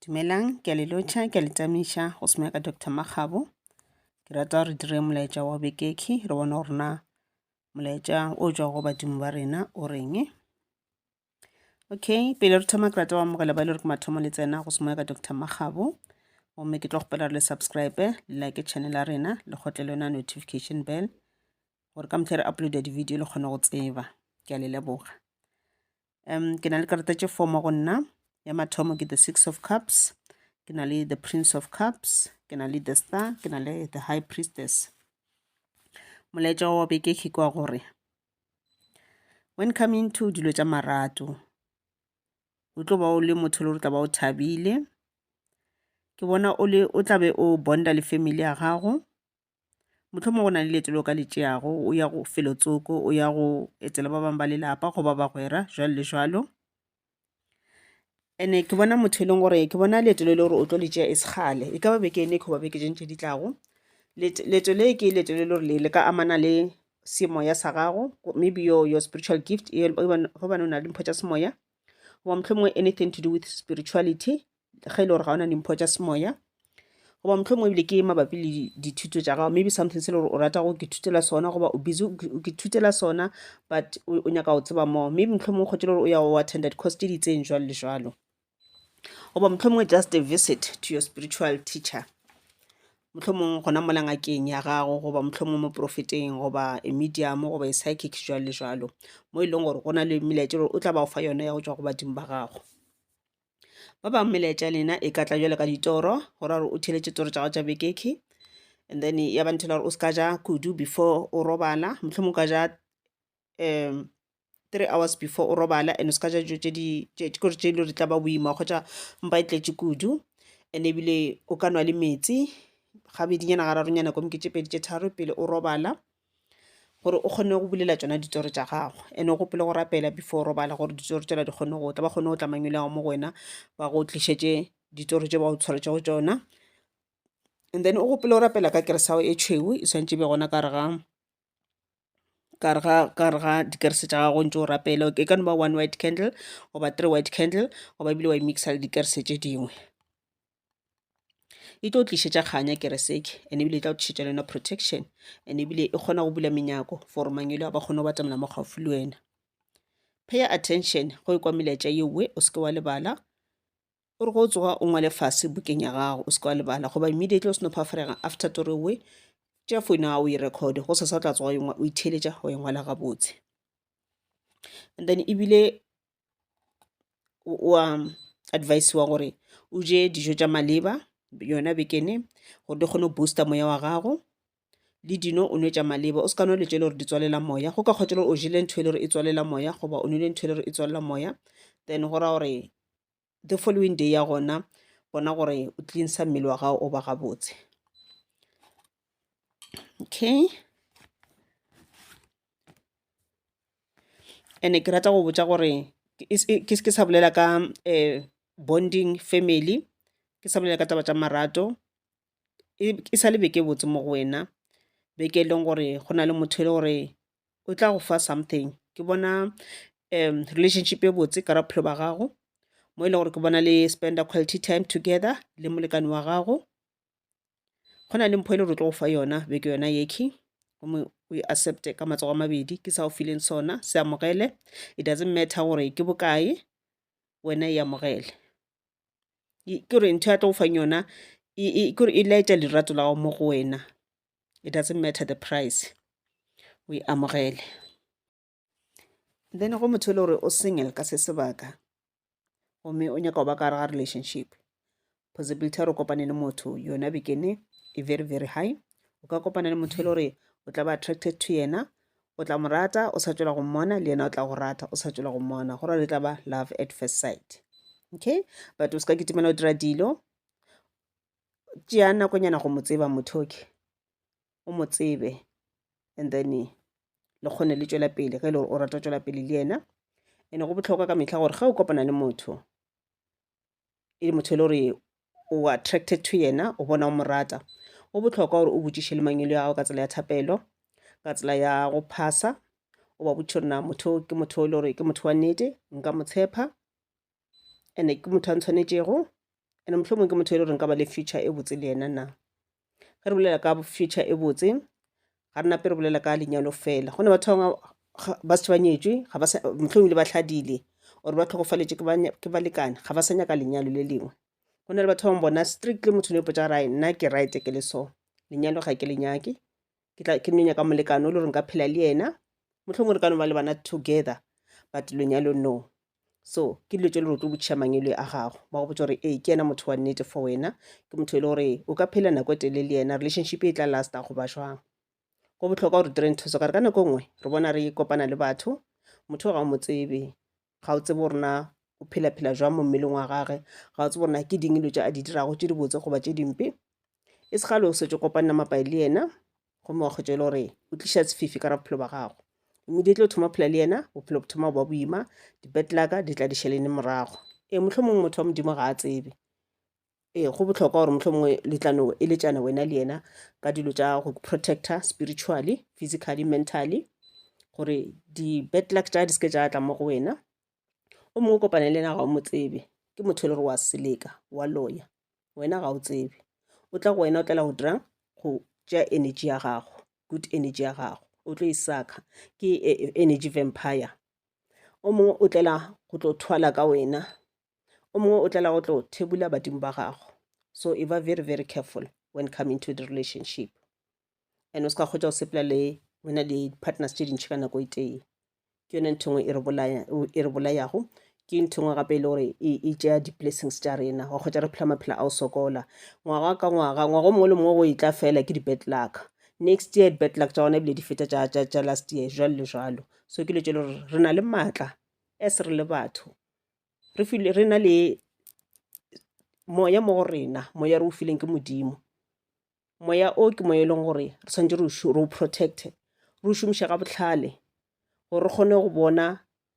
Dumelang, ke a le lotšha, ke a le tamiša go se ka Doctor Makgabo. Ke rata re dire molaetša wa bekekhi re bone gore na molaetša o tšwa go badimo ba rena o reng. Okay, pele re thoma ke rata go amogela ba e le gore ke mathomo le tsena go se ka Doctor Makgabo. Gomme ke tlo kgopela re le subscribe, le like channel ya rena, le kgotle le yona notification bell gore ka mehla re uploada di-video le kgone go tseba. Ke a le leboga. um ke na le karata tše four mo go nna ya mathomo ke the six of cups ke na le the prince of cups ke na le the star ke na le the high priestess molaetša wa beke ke kwa gore when coming to dilo tša marato o tlo ba o le motho le gore tla ba o thabile ke bona o le o tlabe o bonda le family ya gago Mohlomongwe go na le leeto le o ka le tšeago, o ya go felo tsoko, o ya go etela ba bangwe ba lelapa goba bagwera, jwalo le jwalo. And-e ke bona motho e leng gore, ke bona leeto le e le gore o tlo le tšea e se kgale, e ka ba beke ene goba beke tše ding tše di tlago. Leeto le ke leeto le e le gore le ka amana le semoya sa gago, maybe your, your spiritual gift gobane o na le mpho tša semoya. Goba mohlomongwe anything to do with spirituality, ge e le gore ga o na dimpho tša semoya goba motlho mongwe ebile ke mabapi le dithuto tša gago maybe something se le gore o rata go ke thutela sona goba o busy ke thutela sona but o nyaka go tseba more maybe motlho mongwe kgotse le gore o ya go attenda di-course tse di itseng jwalo le jwalo goba motlho mongwe just a visit to your spiritual teacher motlho mongwe gona mola ngakeng ya gago goba motlho mongwe mo profeteng goba a medium goba a psychic jwalo le jwalo mo e leng gore go na le melaetša gore o tla ba go fa yone ya go tswa go badimo ba gago Ba bangwe melaetša ya lena e ka tla jalo ka ditoro go ra gore o theletše toro tša gago tša bekekhe and then ya ba nthela gore o se ka ja kudu before o robala mohlomong ka ja um three hours before o robala and o se ka ja dijo tše di kore tše e le gore tla ba boima kgotsa mpa e tletše kudu and ebile o ka nwa le metsi gabedinyana gararo nyana nako ke tše pedi tše tharo pele o robala. gore o kgone go bulela tšona ditoro tša gago and o gopole go rapela before o robala gore ditoro tšela di kgone go tla ba kgone go tla mangwele ao mo go wena ba go tlišetše ditoro tše ba go tshwaretšego tšona and then o gopole o rapela ka kerese ya gago e tšhweu e swanetše e be gona ka re ga ka re ga ka re ga dikerese tša gago o ntše o rapela e ka no ba one white candle goba three white candle goba ebile wa e mix-a le dikerese tše dingwe. e tlo tlišetša kganya kereseke and ebile e tla tlišetša le yona protection and ebile e kgona go bula menyako for mangelo a ba kgone go batamela mo gaufi le wena pay attention go e kwa melaetša yeowe o seke wa lebala o re go tsoga o ngwale fase bukeng ya gago o seke wa lebala goba immediately o seno phafarega after tori owe tšea founu ya gago e record go sesa tla tsoga o itheeletša go e ngwala gabotse and then ebile o a advise-wa gore o je dijo tša maleba yona bekene gore di kgone go booster moya wa gago le dino o nwe tša maleba o se ka nwa dilo tše e le gore di tswalela moya go ka kgotsa le gore o jele ntho e le gore e tswalela moya goba o nwele ntho e le gore e tswalela moya then go ra gore the following day ya gona bona gore o cleansa mmele wa gago o ba gabotse okay and ke rata go botsa gore ke sa bolela ka um bonding family ke sa bolela ka taba tša marato e sa le beke botse mo go wena beke e leng gore go na le motho e le gore o tla go fa something ke bona relationship e botse ka bophelo ba gago mo e lego gore ke bona le spend-a quality time together le molekane wa gago. Go na le mpho e le gore o tlo go fa yona be ke yona ye key gomme o e accept-e ka matsogo a mabedi ke sa go fileng sona se amogele it doesn't matter gore ke bokae wena e amogele. Ke gore ntho ya tlo go fang yona ke gore e laetša lerato la gago mo go wena. it doesn't matter the price o e amogele then go motho e le gore o single ka se sebaka gomme o nyaka go ba ka gare ga relationship possibility ya gore o kopane le motho yona bekene e very very high o ka kopana le motho e le gore o tla ba attracted to yena o tla mo rata o sa tswela go mmona le yena o tla go rata o sa tswela go mmona go ra le tla ba love at first sight okay but o se ka kitimela o dira dilo tšea nakonyana go mo tseba motho oke o mo tsebe and then le kgone le tšwela pele ge e le gore o rata go tšwela pele le yena ene go botlhokwa ka metlha gore ge o kopana le motho e le motho e le gore o attracted to yena o bona o mo rata go botlhokwa gore o botšiše le mangwelo ya gago ka tsela ya thapelo ka tsela ya go phasa o ba botšiša gore na motho ke motho e le gore ke motho wa nnete nka mo tshepa ene ke motho a ntshwanetšego ene mohlomong ke motho e le gore nka ba le future e botse le yena na ge re bolela ka future e botse ga re nape re bolela ka lenyalo fela go ne batho bangwe ba setse ba nyetswe mohlomong le ba tlhadile or ba tlhogofaletše ke balekane ga ba sa nyaka lenyalo le lengwe go na le batho ba bangwe bona strictly motho ne potsa ga rae nna ke right ke le so lenyalo ga ke le nyake ke tla ke nyaka molekano o le gore nka phela le yena mohlomongwe re ka no ba le bana together but lenyalo no so ke dilo tse le gore o tlo botšha mangelo a gago ba go botsa gore ee ke yena motho wa nnete for wena ke motho e le gore o ka phela nako e telele le yena relationship e tla lasta goba jwang go bohlokwa gore dire ntho tso kare ka nako nngwe re bona re kopana le batho motho o ga o mo tsebe ga o tsebe gore na o phela-phela jwang mo mmeleng wa gage ga o tsebe gore na ke ding dilo tse a di dirago tse dibotse goba tse dimpe e se gale o setse kopanna mapai le yena gomme wa kgwetsa e le gore o tliša sefifi ka ra bophelo ba gago immediately o thoma phela le yena bophelo bo thoma ba boima di-bad luck di tla di šelene morago ee mohlomong motho wa modimo ga a tsebe Ee, go bohlokwa gore motlho mongwe le tla no eletšana wena le yena ka dilo tša go protector spiritually physically mentally gore di-bad luck tša di seke tša tla mo go wena o mongwe o kopane le yena ga o mo tsebe ke motho e le gore wa seleka wa loya wena ga o tsebe o tla go wena o tlela go dirang go tšea energy ya gago good energy ya gago o tlo e saka ke e, e, energy vampire o mongwe o tlela go tlo thwala ka wena o mongwe o tlela go tlo thebula badimo ba gago so e ba very very careful when come into the relationship and o se ka kgotsa o sepela le wena le partners tše dintšhi ka nako e tee ke yone ntho ngwe e re bolayago ke ntho ngwe gape e le gore e, e tšea di-blessings tša rena wa kgotsa re phela maphela a o sokola ngwaga ka ngwaga ngwaga o mongwe le mongwe go e tla fela ke di-bad luck next year di-bad luck tša gona ebile di feta tša last year jalo le jalo so ke le tše le gore re na le maatla as re le batho re filwe re na le moya mo go rena moya re o fileng ke modimo moya o ke moya e leng gore re tshwanetse re o re o protect re o šomiše ka bohlale gore re kgone go bona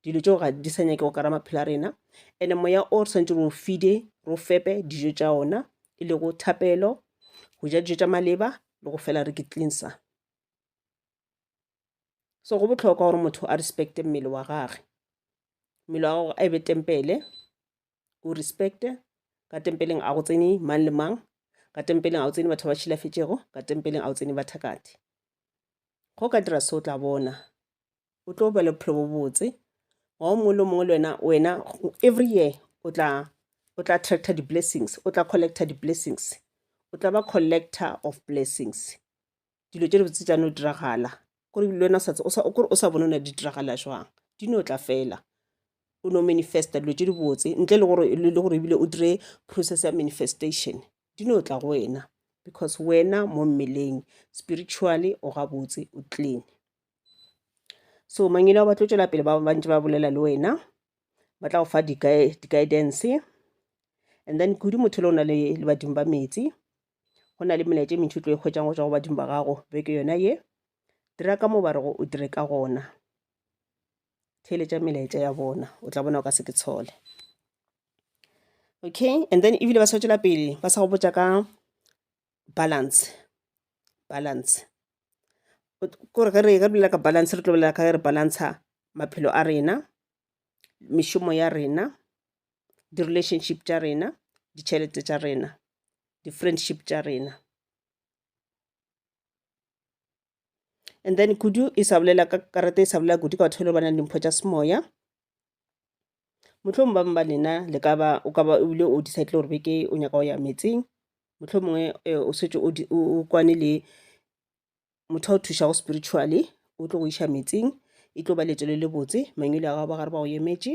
dilo tšeo ga di sa nyakego ka ra maphelo a rena and-e moya o re tshwanetse re o fide re o fepe dijo tša ona e lego thapelo go ja dijo tša maleba le go fela re ke cleanser. so go botlhokwa gore motho a respecte mmele wa gage mmele wa gago a e be tempele o respecte ka tempeleng a go tsene mang le mang ka tempeleng a o tsene batho ba tšhilafetšego ka tempeleng a o tsene bathakati go ka dira se o tla bona o tlo ba le bophelo bo botse wa o mongwe le mongwe le wena wena every year o tla o tla attracta di-blessings o tla collecta di-blessings o tla ba collector of blessings dilo tše dibotse tša no diragala kore le wena sa kore o sa bone o ne di diragala jwang di no tla fela o no manifesta dilo tše dibotse ntle le gore le gore ebile o dire process ya manifestation di no tla go wena because wena mo mmeleng spiritually o gabotse o clean so mangelo ba tlo tšwela pele ba bantse ba bolela le wena ba tla go fa di-guidance and then kudu motho le o na le badimo ba metsi go na le melaetša e mentši o tlo e kgwetšang go tšwa go badimo ba gago beke yona ye dira ka mo ba rego o dire ka gona theeletša melaetša ya bona o tla bona o ka se ke tshole okay and then ebile ba swetšela pele ba sa go botša ka balance balance kore ge re ge re bolela ka balance re tlo bolela ka ge re balantsha maphelo a rena mešomo ya rena di-relationship tša rena ditšhelete tša rena di-friendship tša rena and then kudu e sa bolela ka karata e sa bolela kudu ka batho ba ba nang dimpho tša semoya motlho mongwe ba lena le ka ba o ka ba ebile o decide gore beke o nyaka go ya metseng motlho mongwe eh, o setse o kwane le motho a o thušago spiritually o tlo go iša metseng e tlo ba letselo le botse mangwele a gago ba gare ba go emetše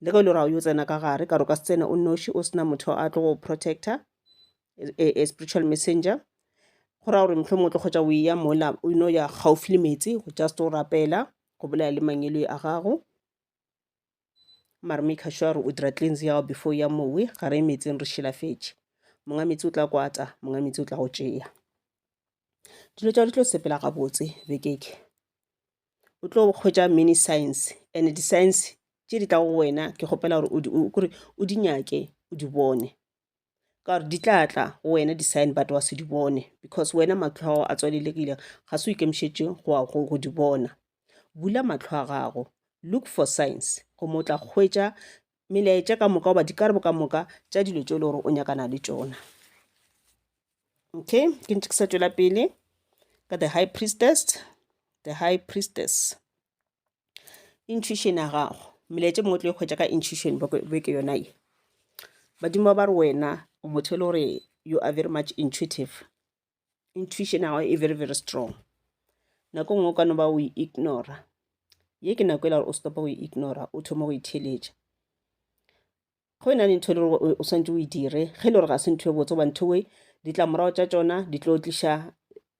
le ge o le gore ga o yo tsena ka gare ka re o ka se tsene o nnoši o sena motho a tlo go protector a, a spiritual messenger go raya gore mohlomongwe o tlo kgotsa o eya mola o ino ya gaufi le meetse go just o rapela go bolaya le mangeloi a gago mare make sure gore o dira cleanse yago before o ya mowe ga re ye meetseng re šilafetše monga meetse o tla kwata monga meetse o tla go tšea dilo tša di tlo sepela gabotse bekeke o tlo kgwetša many science and di-science tše di tlago go wena ke kgopela gore kore o di nyake o di bone ka gore di tla tla go wena di-sign but wa se di bone because wena matlho a gago a tswalelegile ga se o ikemišetše go di bona bula matlho a gago look for science gomme o tla kgwetša melaetša ka moka goba dikarabo ka moka tša dilo tšeo le gore o nyakana le tšona okay ke ntse ke sa tšwela pele ka the high priestess the high priestess intuition ya gago melaetša mongwe tlo e kgwetša ka intuition be ke yona ye badimo ba ba re wena o motho e le gore you are very much intuitive intuition ya gago e very very strong nako nngwe o ka no ba o e ignora ye ke nako e la gore o stopa go e ignora o thoma go itheletša go e na le ntho e le gore o swantse o e dire ge e le gore ga se ntho e botse goba ntho e ditlamorago tša tsona di tlo tliša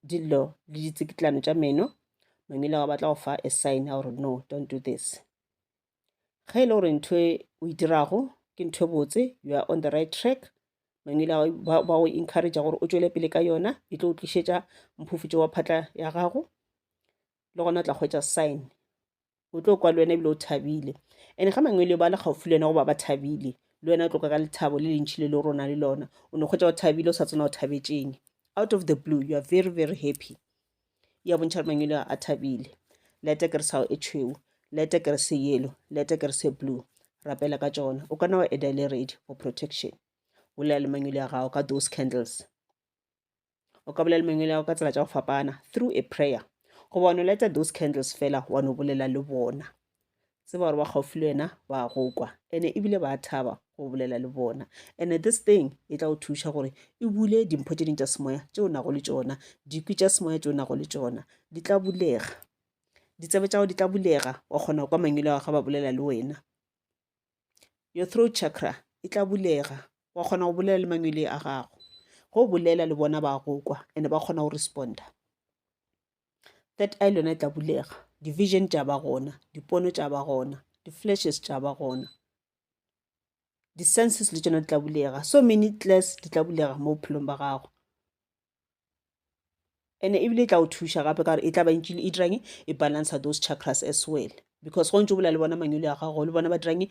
dillo le ditsikitlano tša meno mamile ga batla go fa a sign ya gore no don't do this ge e le gore ntho e o e dirago ke ntho e botse you are on the right track mangwele ba go encourage gore o tšwele pele ka yona e tlo o tlišetša mphufutšo wa phatla ya gago le gona o tla kgwetsa sign o tlo kwa le wena ebile o thabile and ga mangwele ba le gaufi le wena goba ba thabile le wena o tloka ka lethabo le lentšhi le le rona le lona o ne kgwetsa o thabile o sa tsena o thabetšeng out of the blue you are very very happy ya bontšha gore mangwele a thabile lete ke re sao e tšhweu lete ke re se yellow lete ke re se blue rapela ka tšona o kana wa eda le ready for protection bolela le mangwele a gago ka those candles o ka bolela le mangwele a gago ka tsela tša go fapana through a prayer goba wa no leta those candles fela wa no bolela le bona tseba gore ba gaufi le wena ba go kwa ene ebile ba thaba go bolela le bona ene this thing e tla go thuša gore e bule dimpho tše ding tša semoya tše o nago le tšona dikwi tša semoya tše o nago le tšona di tla bulega ditsebe tša go di tla bulega wa kgona kwa mangwele wa ga ba bolela le wena your throat chakra e tla bulega wa kgona go bolela le mangwele a gago go bolela le bona ba go kwa ene ba kgona go responda third eye le yona e tla bulega division tša ba gona dipono tša ba gona di-flashes tša ba gona di-senses le tšona di tla bulega so many class di tla bulega mo bophelong ba gago and ebile e tla o thuša gape ka gore e tla ba ntšile e dirang e balancer those chakras as well because go ntse o bolela le bona manyolo ya gago le bona ba dirang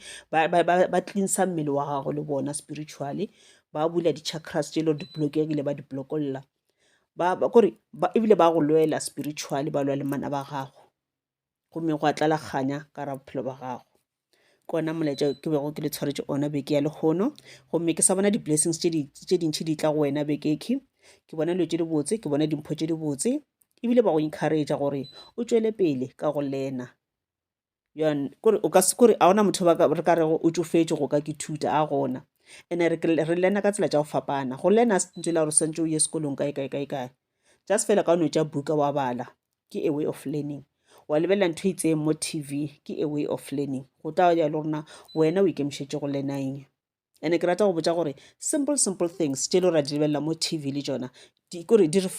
ba cleansa mmele wa gago le bona spiritually ba bula di-chakras tše e le gore di-blockegile ba di-blockolla kore ebile ba go lwela spiritually ba lwa le mana ba gago gomme go a tlalakganya ka ra bophelo ba gago ke ona molaetša ke bego ke le tshwaretše ona beke ya lehono gomme ke sa bona di-blessings tše dintšhi di tla go wena bekeke ke bona dilo tše di botse ke bona dimpho tše di botse ebile ba go encourage gore o tšwele pele ka go lena kore o ka se kore a ona motho ba re ka rego o tšofetše go ka ke thuta a gona ene re re lena ka tsela tša go fapana go lena se ntse la gore swantse o ye sekolong kae kae kae kae just fela ka o no tša buka wa bala ke a way of learning wa lebelela ntho e itseng mo tv ke a way of learning go tla ya le rona wena o ikemišetše go lena eng ene ke rata go botša gore simple simple things tše le ra di lebelela mo tv le tšona kore di re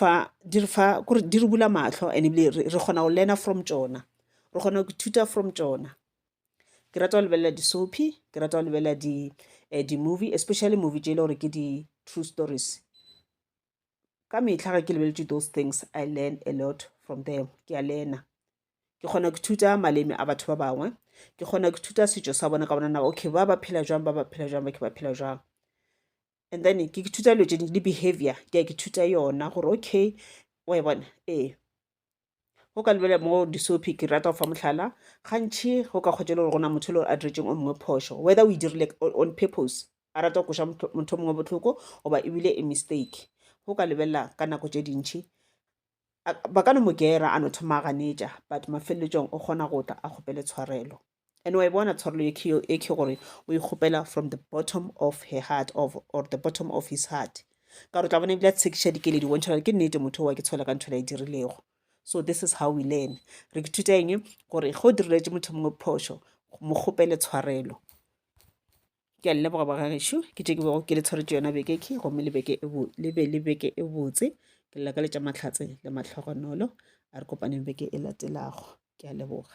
fa kore di re bula mahlo and ebile re kgona go learner from tšona re kgona go ithuta from tšona ke rata go lebelela di-soapy ke rata go lebelela eh, di-movie especially movie tše e le gore ke di-true stories ka mehla ga ke lebeletše those things i learn a lot from them ke a lena ke kgona ke thuta maleme a batho ba bangwe ke kgona ke thuta setšo sa bona ka bona naba okay ba ba phela jwang ba ba phela jwang ba ke ba phela jwang and then ke ke thuta dilo tše dingwe le behavior ke ya ke thuta yona gore okay wa e bona ee go ka lebelela mo disopi ke rata go fa motlhala gantšhi go ka kgotsa e le gore gona motho e le gore a diretseng o mongwe phošo whether o e dirile on purpose a rata go koša motho mongwe botlhoko goba ebile e mistake go ka lebelela ka nako tše dintšhi ba ka no mo gera a no thoma a ganetša but mafeleletsong o kgona go tla a kgopele tshwarelo and wa e bona tshwarelo ye ke e ke gore o e kgopela from the bottom of her heart of, or the bottom of his heart ka gore tla bona ebile a tshekiša dikeledi o bontšha gore ke nnete motho wa ke tshola ka ntho la e dirilego so this is how we learn re ke thuta eng gore ge o diriletse motho mongwe phošo mo kgopele tshwarelo ke a leboga ba gagešu ke tše ke bego ke le tshwaretše yona beke ke gomme le beke le be le beke e botse ke lela ka letša mahlatse le matlhogonolo a re kopaneng beke e latelago ke a leboga